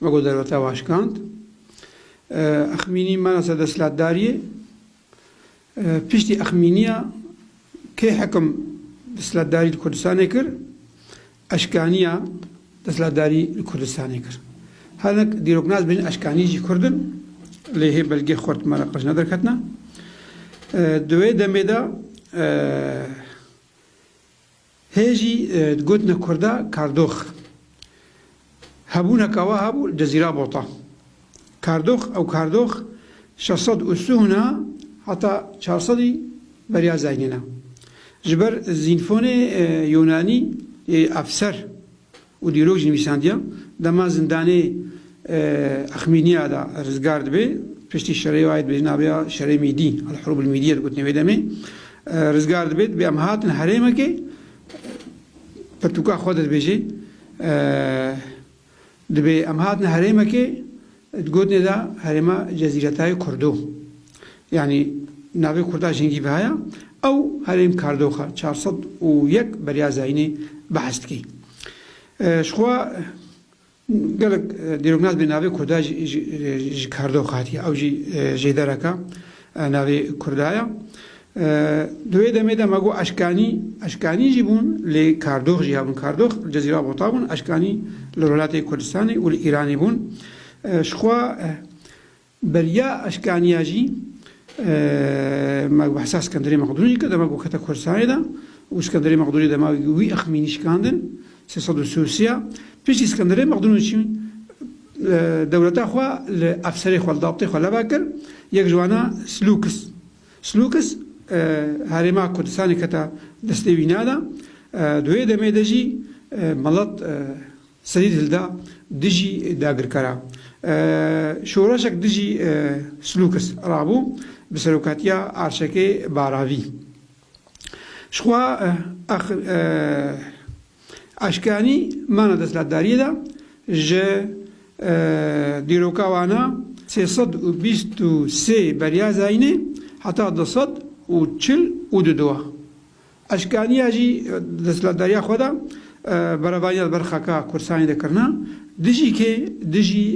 Me ku derveta aşkand, Exmînî mena ser desthilatdariyê. Piştî Exmîniya kê hekim desthilatdarî li Kurdistanê kir, eşkaniya desthilatdarî li Kurdistanê kir. Hinek dîroknas bêjin eşkanî jî Kurd in, lê hê belgê xurt me re qij ne derketina. Di wê demê de. Hê jî digotina kurda kardox. Hebûneka wiha bû di Zîrabota. Kardox ew kardox şeş sed û sûhna heta çar sedî beriya zengîna. Ji ber zînfonê Yûnanî yê efser. û dîrok jî nivîsandiya dema zindanê Axmîniya de rizgar dibe piştî şerê wayê dibêjin navê şerê mîdî Elhurûb Elmîdîye digotinê wê demê rizgar dibe dibê em hatin herêmekê pirtûka xwe de dibêje dibê em hatin herêmekê Di gotinê de herêma Cezîretayê Kurdo yanî navê Kurda jingî ve heye, ew herêm kardoxa çar sed û yek beriya zayînê behs dike. Ji xwe gelek dîroknas bê navê Kurda ji kardoxa hatiye, ew jî jêdereke Navê Kurda ye. Di wê demê de me got eşkanî, eşkanî jî bûn lê kardox jî hebûn. Kardox li Cezîra Bota bûn, eşkanî li Rojhilatê Kurdistanê û li Îranê bûn. Ji xwe beriya eşkaniya jî me bi hisa Skenderê Mexdûnî kir, dema ku kete Kurdistanê de û Skenderê Mexdûnê dema wî ixmînî şikandin sê sed û si û sê ya. Piştî Skenderê Mexdûnî çî Dewleta xwe li efserê xwe, li dabtê xwe lebe kir, yek ji wana Slûkis. Slûkis herêma Kurdistanê kete destê wî ne de, di wê demê de jî melet serî hilda dijî dagirkera. Şoreşek dijî Slûkis rabû bi serokatiya Arşekê Baravî. Ji xwe Eşkanî mana destlatdariyê de ji dîroka wana sê sed û bîst û sê beriya Zayînê heta du sed û çil û du dua. Eşkaniya jî destlatdariya xwe de berevaniya li ber xaka Kursanê de kirina, dijî kê dijî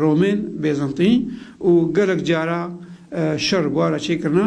Romên, Bêzintî û gelek cara şer bûara çêkirina.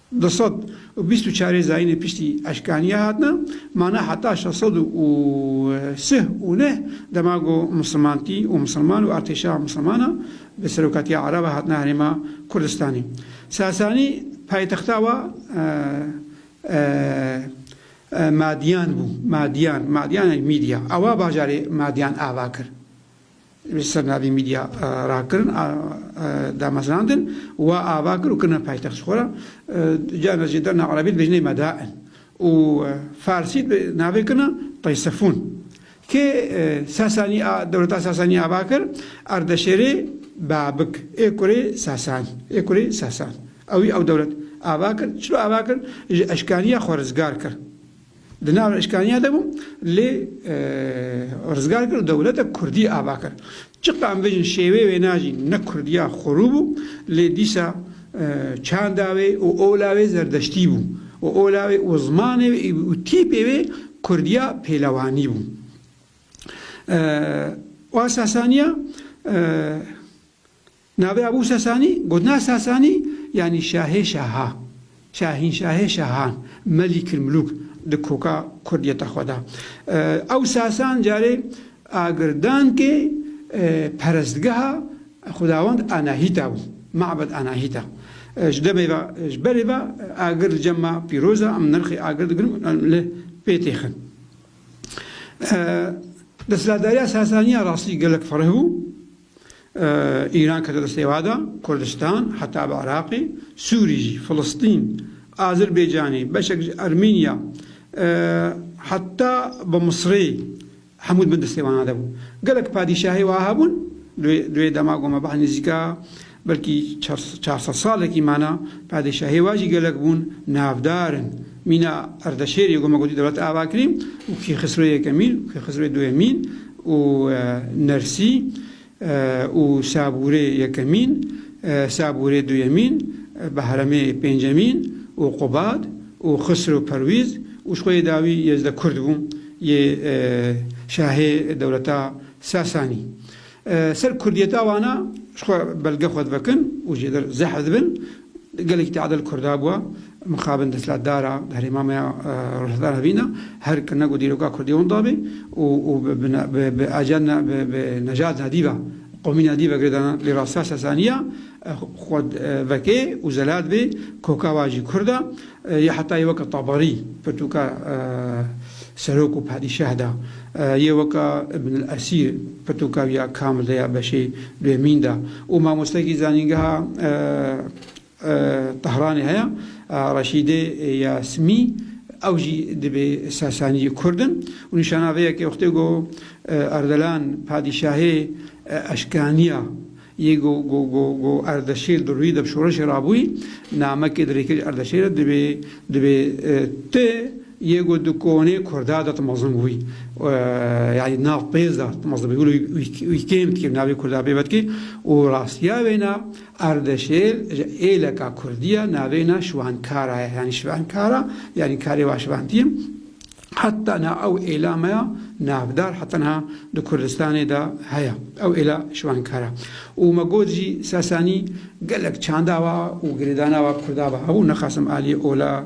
Du sed û bîst û çarê zayînê piştî eşkanîya hatine mane heta şeş sed û sih û neh dema ku musilmantî û musilman û artêşa musilmana bi serokatiya Ereba hatine herêma Kurdistanê. Sasanî paytexta wa Madiyan bû. Madiyan, Madiyan yanî Mîdya. Ewa bajarê Madiyan ava kir. Li ser navê Mîdya rakirin a damezrandin wa ava kir û kirine paytext ji xwe re. Carna jî derna erebî dibêjine Madain û farsî navê kirine Taysefûn. Kê Sasanî a dewleta Sasanî ava kir Ardeşêrê Babik ê kurê Sasan ê kurê Sasan ewî ew dewlet ava kir. Çilo ava kir? Ji eşkaniya xwe rizgar kir. Di nav eşkaniya de bû lê rizgar kir û dewleta kurdî ava kir. Çiqas em bijîn şêwê wêna jî ne kurdiya xwerû bû lê dîsa çanda wê û ola wê zerdeştî bû û ola wê û zimanê wê û tîpê wê kurdiya pêlewanî bû. Wa Sasaniya Navê Ebû Sesanî, gotina Sesanî, yanî şahê şahan, şahînşahê şahan, Melikil Mulûk di koka kurdiyeta xwe de. Ew Sesan carê agirdankê perestgeha xwedawend Anahîta bû, Ma'bed Anahîta. Ji debê ve, ji berê ve agir li cem me pîroz e, em nirxê agir digirin û em li pê têxin. Desthilatdariya Sesaniya rastî gelek fereh bû, Îran kete di sêwa de, Kurdistan, heta bi Iraqê, Sûrî jî, Filistîn, Azirbaycanê, beşek ji Ermênya, heta bi Misirê hemû di bin destêwana de bû. Gelek padîşahî wiha hebûn, di wê dema ku me behs nêzîka belkî çar sed salekî mane, padîşahî wiha jî gelek bûn, navdar in. Mîna Erdeşêrê ku me gotî dewlet avakirî û Kîxisro Yekemîn û Kîxisro Duyemîn, û Nersî û Sabûrê yekemîn, Sabûrê duyemîn, Behremê pêncemîn û Qubad û Xisro Perwîz û ji xwe yê dawî Yezde Kurd bû yê şahê dewleta Sasanî. Ser kurdiyeta wana ji xwe belge xwe divekin û jêder zehf dibin Gelekî teadil Kurda bûa, mixabin destlatdara herêma me ya Rojhilata Hevîn a, her kirina ku dîroka Kurdî wan dabê û û bi bi bi ajan na bi bi nejat na dî ve, qomî na dî ve girêdana. Lê rastiya Sasaniya xwe vekê û zelat bê koka wa jî Kurd a. Yê hetayê weke Tabarî, pirtûka serok û padîşah da. Yê weke Ibn El Esîr, pirtûka wî ya kamil de ya beşê duyemîn da. Û mamostekî zanîngeha Tehranê heye, Reşîdê ya Simî, ew jî dibê Sasaniyê Kurd in. Û nîşana vê ye ke wextê ku Erdelan padîşahê eşkaniya. Yê ku ku Erdeşîr di rûyî de bi şoreşê re bûyî, namekê di rêkirî Erdeşîr re dibê dibê ti yê ku di konê Kurda de ti mezin bûbî. Yanî di nav pêz de ti mezin bûbî. Wilo wî kêm dikê navê Kurda pê vedikê û rastiya wêna Erdeşêr ji êleka Kurdî ye navê na Şiwankara ye. Yanî Şivankara yanî karê va şivantî ye. Heta niha ew êla me ya navdar heta niha di Kurdistanê de heye. Ew êla şiwankar e. Û me got jî Sasanî gelek çanda wa û girêdana wa Kurda ve hebû, nexasim aliyê ola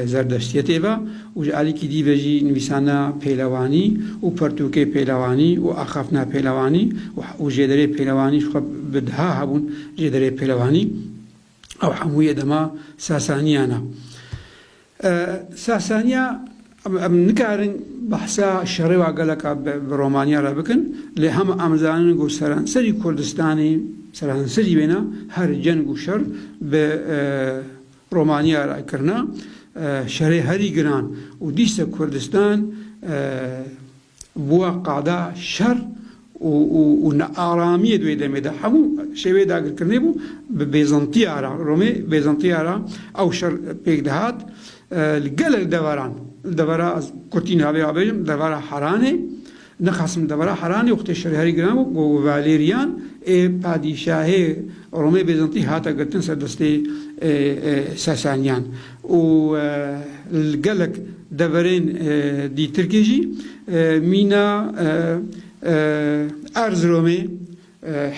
Zerdeştiyetê ve û ji alîkî dî ve jî nivîsana pêlewanî û pertûkê pêlewanî û axaftina pêlewanî û jêderê pêlewanî ji xwe bi diha hebûn jêderê pêlewanî. Ew hemû yê dema Sasaniyan e. Sasaniya em nikarin behsa şerêwa geleka bi Romaniya re bikin lê hema em zanin ku seranserî Kurdistanê seranserî wêne her ceng û şer bi Romaniya re kirine şerê herî giran û dîsa Kurdistan Bûya qada şer û nearamiyê di wê demê de hemû şêweyê dagirkirinê bû. Bi bêzantiya re, Romê bêzantiya re ew şer pêk dihat. Li gelek deveran, li devera kurtî niha vê bêjim, li devera Heranê, nixwasim li devera Heranê wextê şerê herî giran bû, ku Valerian ê padîşahê Romê bêzantî hate girtin ser destê Sasaniyan. û li gelek deverên dîtirkê jî mîna Erziromê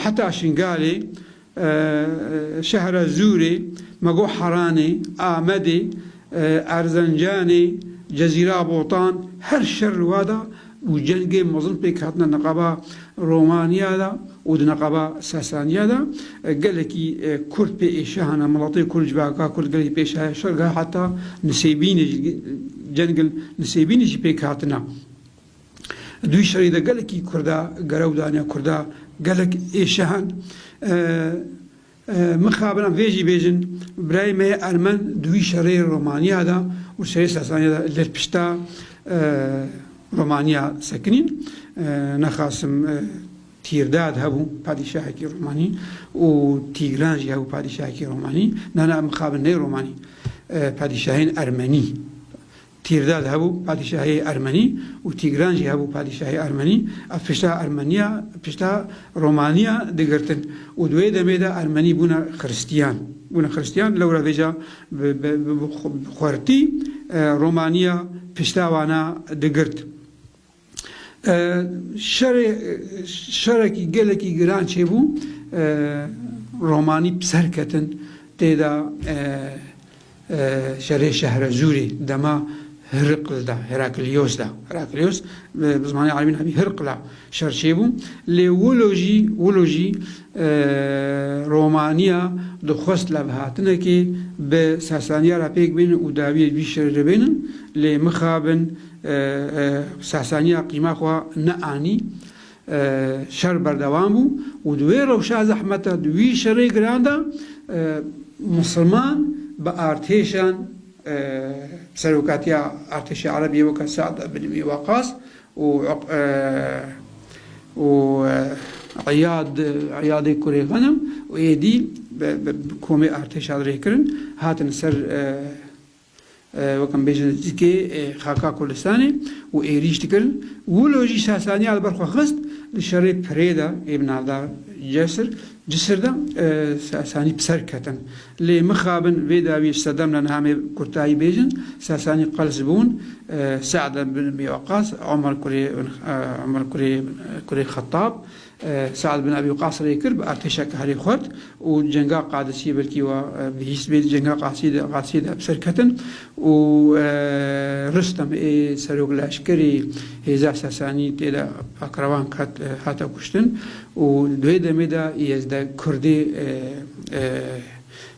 heta Şingalê, Şehrezûrê, Megoharanê, Amedê, Erzencanê, Cezîra Botan her şer li wa da û cengê mezin pêk hatine neqaba Romaniya de û di neqaba Sasaniya de gelekî Kurd pê êşe hene, miletê Kurd, civaka Kurd gelekî pê êşe şerga heta Nisêbînê jî cengên Nisêbînê jî pêk hatine. Dûyî şerî de gelekî Kurda gerew dane, Kurda gelek êşe hen. Mixabin vê jî bêjin, birayê me yê ermen di wî şerê Romaniya de û şerê Sasaniya de li pişta Romaniya sekinîn. Nexasim Tîrdad hebû padîşahekî Romanî û Tîgran jî hebû padîşahekî Romanî. Nana mixabin ney Romanî, padîşahên ermenî. Tîrdad hebû padîşahê ermenî û Tîgran jî hebû padîşahê ermenî. Ev pişta ermeniya pişta romaniya digirtin û di wê demê de ermenî bûne xiristiyan. Bûne xiristiyan lewra vêca bi bi xwertî romaniya pişta wana digirt. Şerê şerekî gelekî giran çêbû. Romanî bi ser ketin tê de şerê Şehrezûrê dema Hirql de, Heraklios de, Heraklios bi zimanê erebî navê Hirql e, şer çêbû. Lê wilo jî wilo jî romanîya dixwest levhatinekê bi Sasanîya re pêk bêne û dawîyê wî şerê re bêne lê mixabin Sasaniya qîma xwe neanî. Şer berdewam bû û di wê rewşa zehmet de, di wî şerê giran de Misirman bi artêşan serokatiya artêşa Erebiyê weke Sead bin Îmî Waqas û û Îyad Îyadê kurê Xenim û êdî bi komê artêşan rêkirin hatin ser Wek em bêjin zikê xaka Kurdistanê û êrîş dikir. Wilo jî Sasaniya li ber xwe xist. Di şerê pirê de ê bi navda Cesir, Cisir de Sasanî bi ser ketin. Lê mixabin vê dawiyê ji sedem re niha em ê bi kurtayî bêjin, Sasanî qels bûn, Se'd bin Ebî Weqas, Omer kurê kurê Xetab, Sead bin Ebî Weqas rê kir bi artêşeke herî xurt û cenga Qadisîyê belkî wa bihîst bê di cenga Qadisîyê de bi ser ketin û Rustem ê serok leşkerî hêza Sesanî tê de pakrevan ket hate kuştin û di wê demê de Îezdeg Kurdê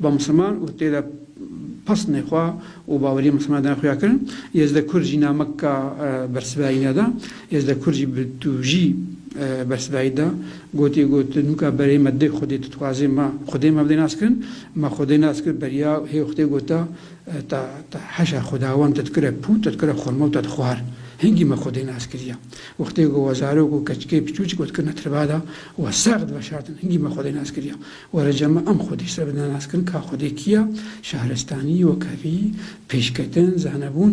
Ba Misliman û tê de pasnê xwe û baweriyên Misliman dina xuya kirin. Yezde Kurd jî nameka bersivayî neda. Yezde Kurd jî bi tûjî bersivayî da. Gotî ku tu nûka berê me dê xwedê tu dixwazê me xwedê me bidê nas kirin. Me xwedê nas kir beriya hê xwedê gota ta ta heşa xwedawend te dikire pût te dikire xurma û te dixwar. Hingî me xwedê nas kiriye. Wextê ku we zarok û keçikê piçûçik we dikirine tirbada we sext diveşartin hingî me xwedê nas kiriye. Were cama em xwedî ji ser bi nas kirin ka xwedê kî ya, şahrestanî, wekhevî, pêşketin, zanebûn,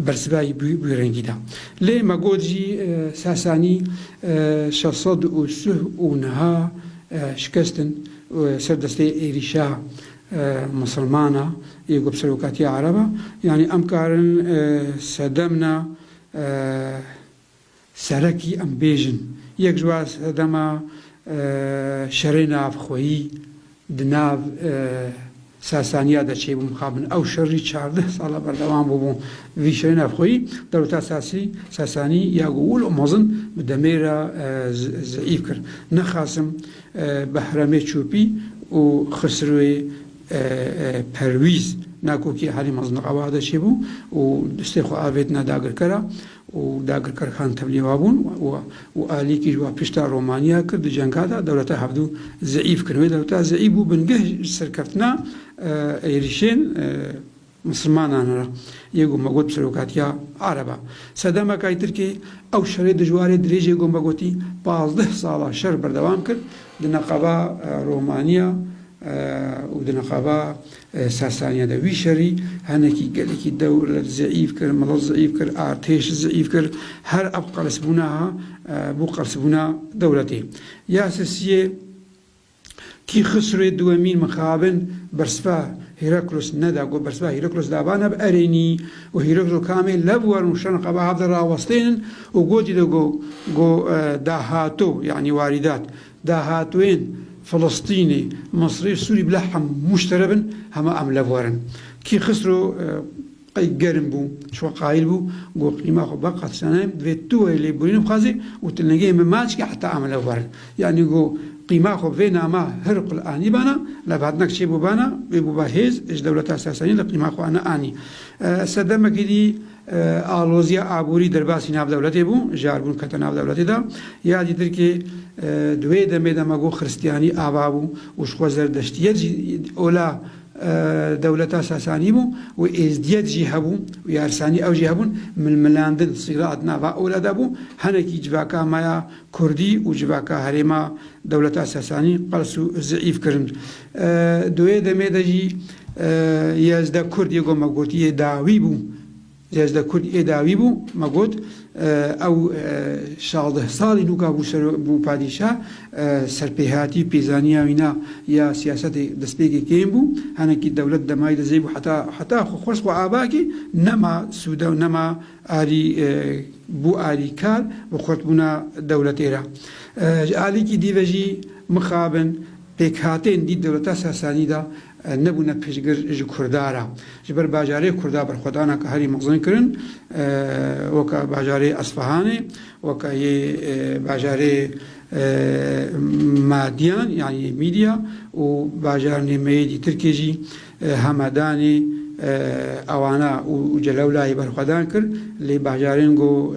bersivayî bi rengî da. Lê me got jî Sasanî şeş sed û suh û niha şikestin ser destê êrîşa misilmana yê ku bi serokatiya ereba, yanî em karin sedemna. Serekî em bêjin. Yek ji wan sedema şerê navxweyî di nav Sasaniya de çêbû. Mixabin ew şer jî çardeh sala berdewam bûbû. Vî şerê navxweyî dewleta Sasî, Sasanî ya ku wil û mezin bi demê re zeîf kir. Ne Xasim, Behremê Çûpî û Xisrûê Perwîz, ne ku kî herî mezin di qebaxe de çêbû û destê xwe avêtine dagirkera û dagirker Xan Tevlî wa bûn û Alî kî ji wa pişta Romanya kir di cenga de dewleta hevdû zeîf kirin. Wê dewleta zeîf bû bingeh ji serkeftina êrişên misilmanan re yê ku me got bi serokatiya Ereb e. Sedemekay Tirkiyeyê ew şerê dijwarê dirêjê ku me gotî pazdeh sala şer berdewam kir di neqeba Romanya û di neqeba Sasaniya de wî şerî henekî gelekî dewlet zeîf kir, milet zeîf kir, artêş zeîf kir. Her ev qelsbûna ha bû qelsbûna dewletê. Ya sisiyê kî Xisrûyê Duwemîn mixabin bersiva Hîraklos neda ku bersiva Hîraklos de va neb erênî û Hîraklos û Kamê lev werin û şan xwe bi hev de rawestênin û gotî de ku ku dahato yanî warîdat Dahatûyên Filistînî, Misrî, Sûrî bila hemû ji te re bin, hema em li vir in. Kî Xisro qey germ bû, ji xwe qayîl bû, got, Qîma xwe ba qetlane, divê tu wayî lêborîn bixwazî û tu lingeyê min maç kî heta em li vir in. Yanî got, Qîma xwe bi vê nama Hirql anîbana, lê bi hatinek çêbûbana wê bûba hêz ji dewleta Sasanî li qîma xwe neanî. Sedemekî dî. Aloziya aborî derbasî navdewletê bû, ji arbûn kete navdewletê de. Ya dî Tirkê di wê demê de me got xiristiyanî ava bû û jixwe zerdeştiyet jî ola dewleta Sasanî bû û êzdiyet jî hebû û yarsanî ew jî hebûn. Milmilandin, sîrat, nava ola de bû. Hinekî civaka me ya kurdî û civaka herêma dewleta Sasanî qels û zîîf kirin. Di wê demê de jî ya ji de Kurd yê ku me got yê dawî bû, ya ji de Kurd yê dawî bû, me got ew şazdeh salî nûka bû ser bû padîşa, serpêhatî û pêzaniya wî na ya siyasetê destpêkê kêm bû, henekî dewlet demay dizê bû heta heta xwe xwest xwe ava kê, nema sûde û nema alî bû alîkar bi xurtbûna dewletê re. Ji alîkî dî ve jî mixabin, Pêkhatên dî di rota Sasanî de nebûne piştgir ji Kurda re. Ji ber bajarê Kurda berxwedana ka herî mexzin kirin weke bajarê Esfahanê, weke yê bajarê Madiyan yanî yê Mîdya û bajarnê me yê dî Tirkê jî Hamedanê, Awana û Celewlayê berxwedan kir lê bajarên ku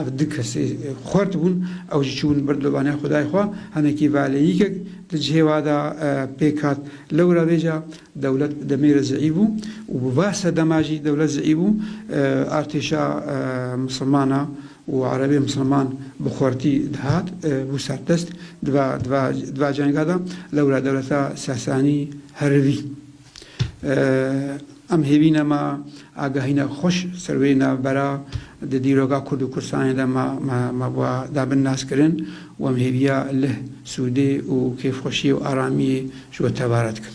Ev du kesê xwert bûn, ew jî çûbûn ber dobanê xwedayê xwe. Hinekî velêyîkek di cihê wa de pêk hat. Lewra vê ca dewlet bi demê re zeîf bû û bi va sedema jî dewlet zeîf bû. Artêşa misilman a û erebê misilman bi xwertî dihat bû serdest. Di va di va di va cenga de lewra dewleta Sasanî herivî. Em hêvî ne ma agahîna xweş ser wê navbera di dîroga Kurd û Kurdistanê de ma ba dabin naskirin û em hêviya lih, sûdê û kêfxweşiyê û aramiyê ji we tevare dikin.